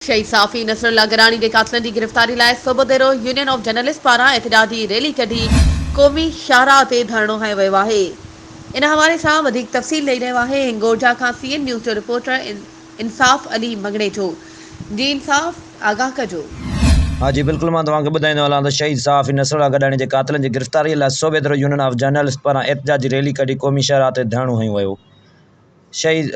شھيد صحافي نصر الله گراڻي جي قاتلن جي گرفتاري لاء Sobhodero union of journalist پاران احتجاجي ريلي ڪڍي قومي شاھراھ تي ڌرڻو ھنيو ويو آھي ان حوالي سان وڌيڪ تفصيل ڏئي رھيو آھي ھنگورجا کان سي اين نيوز جو رپورٽر انصاف علي مڱڻيجو جي انصاف آگاھ ڪجو. ها جي بلڪل مان توهان کي ٻڌائيندو هلان ته شهيد صحافي نصر الله گڏاڻي جي قاتلن جي گرفتاري لاء Sobhodero union of journalist پاران احتجاجي ريلي ڪڍي قومي شاهراهه تي ڌرڻو هنيو ويو. شهيد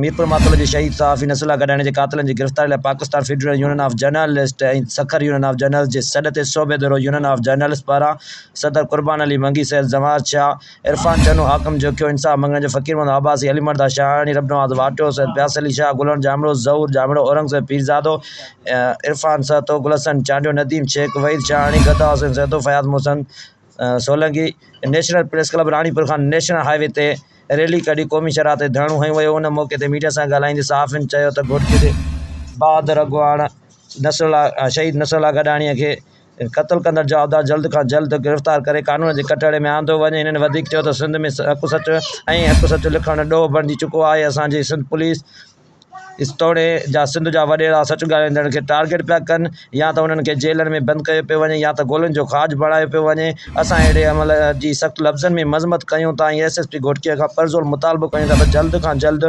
ميرپور ماڪل جي شهيد صحافي نصر الله گڏاڻي جي قاتلن جي گرفتاري لاء Pakistan federal union of journalist ۽ Sukkur union of journalist جي سڏ تي Sobhodero union of journalist پاران صدر قربان علي منگي سيد زنوار شاهه عرفان چنو حاڪم جوکيو انصاف منگڻ جو فقير محمد عباسي علي مردا شاهاڻي رب Nawaz Wattio Syed Piyas Ali Shah Gullan Jamro Zahoor Jamro Aurangzeb Pirzado Irfan Sahto Gulhassan Chandio Nadeem Shaikh Waheed Shahani Gada Hussain Sahto Fayaz Mohsin Solangi, national press club Ranipur کان نيشنل هاء وي تي ريلي ڪڍي قومي شاهراهه تي ڌرڻو هنيو ويو، ان موقعي تي ميڊيا سان ڳالهائيندي صحافين چيو ته گهوٽڪي جي بهادر اڳواڻ شهيد نصر الله گڏاڻي کي قتل ڪندڙ جوابدار جلد کان جلد گرفتار ڪري قانون جي ڪٽهڙي ۾ آندو وڃي، هنن وڌيڪ چيو ته سنڌ ۾ هڪ سچ ۽ هڪ سچ لکڻ ڏوهه بڻجي چڪو آهي، اسان جي سنڌ پوليس. اس توڙي جا سنڌ جا وڏيرا سچ ڳالهائيندڙن کي ٽارگيٽ پيا ڪن يا ته انهن کي جيلن ۾ بند ڪيو پيو وڃي يا ته گولين جو کاڄ بڻايو پيو وڃي اسان اهڙي عمل جي سخت لفظن ۾ مذمت ڪيون ٿا ۽ ايس ايس پي گهوٽڪي کان پرزور مطالبو ڪيون ٿا ته جلد کان جلد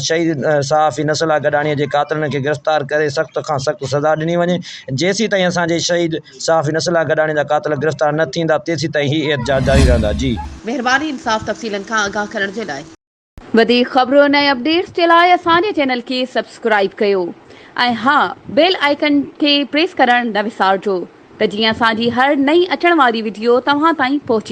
شهيد صحافي نصر الله گڏاڻي جي قاتلن کي گرفتار ڪري سخت کان سخت سزا ڏني وڃي جيسيتائين اسان جي شهيد صحافي نصر الله گڏاڻي جا قاتل گرفتار نه ٿيندا تيسيتائين هي احتجاج جاري رهندا جي مهرباني انصاف تفصيلن کان آگاهه ڪرڻ جي لاء. وڌيڪ خبرن ۽ اپڊيٽس جي لاء اسان جي چينل کي سبسڪرائيب ڪيو ۽ ها بيل آئيڪن کي پريس ڪرڻ نه وسارجو ته جيئن اسان جي هر نئين اچڻ واري وڊيو توهان تائين پهچي.